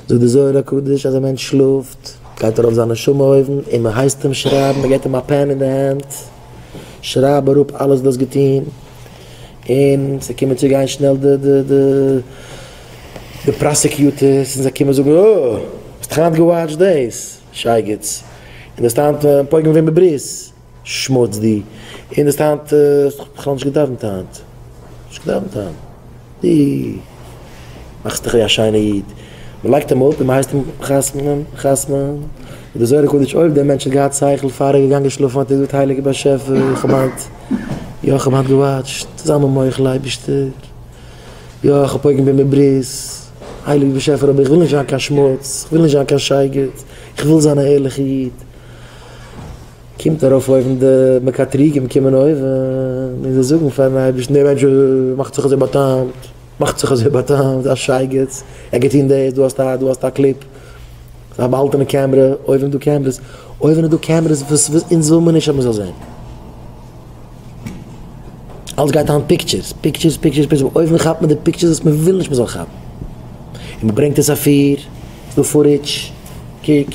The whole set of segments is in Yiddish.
זאגט די זוהר הקדוש אז א מענטש שלאפט גייט ארויף זיין נשמה אויבן און מען הייסט אים שרייבן, מען געט אים א פען אין די הענט, שרייב אראפ אלעס וואס דו האסט געטון, און ס'וועט קומען צו גיין שנעל די פראסעקיוטערס און זיי קומען זאגן אה! האסט היינט געוואטשט דאס שייגעץ? און דו האסט היינט פויגן ווען בברית? שמוץ דו און האסט היינט האסט דאך בכלל נישט געדאווענט היינט נישט געדאווענט היינט דו מאכסט דיך ווי א שיינע איד מען לייגט אים אפ און מען הייסט אים חתמ'נען חתמ'נען איז די זוהר הקדוש אויב דער מענטש האט געהאט שכל פאר ער איז געגאנגען שלאפן האט ער געזאגט הייליגער באשעפער איך האב היינט יא איך האב היינט געוואטשט זיי מיר מוחל אייבישטער יא איך האב פוגם בימי ברית הייליגער באשעפער אבער איך וויל נישט זיין קיין שמוץ איך וויל נישט זיין קיין שייגעץ איך וויל זיין א ערליכע איד. קומט ארויף אויבן די מקטריגים קומען אויבן און זיי זאגן פארן אייבערשטן דער מענטש מאכט זיך אזוי באטאמט מאכט זיך אזוי באטאמט א שייגעץ ער גייט טון דאס דא האסטו א דא האסטו א קליפ א באהאלטענע קעמרע אויבן איז דא קעמרעס אויבן איז דא קעמרעס וואס וואס אונז וויל מען נישט אז מען זאל זען אלץ גייט היינט פיקטשערס פיקטשערס פיקטשערס פיקטשערס אויב אויבן כאפט מען די פיקטשערס וואס מען וויל נישט מען זאל כאפן און מען ברענגט עס אפיר ס'דא פוריטש קוק.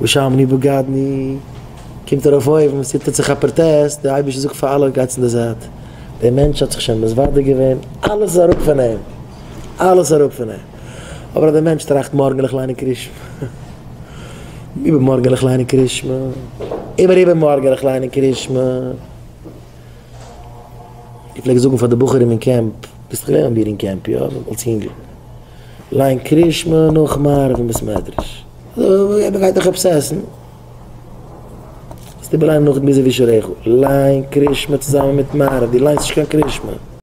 ושמני בגדני, קומט ארויף אויבן, עס טוט זיך א פראטעסט, דער אייבערשטער זאגט פאר אלע, גייטס אין די זייט, דער מענטש האט זיך שוין מסוודר געווען, אלעס איז אראפ פון אים, אלעס אראפ פון אים, אבער אז דער מענטש טראכט מארגן וועל איך ליינען קרישמע, איבערמארגן וועל איך ליינען קרישמע, איבער איבערמארגן וועל איך ליינען קרישמע. איך פלעג זאגן פאר די בחורים אין קעמפ, ביסט געווען ביי מיר אין קעמפ, יא? אלס יונגל, ליין קרישמע נאך מעריב אין בית מדרש. אויב ער גייט דאך עפעס עסן. ביסטו בליינד נאך גזירת שעריך. ליין קרישמע צוזאמען מיט מעריב, דו ליינסט נישט קיין קרישמע.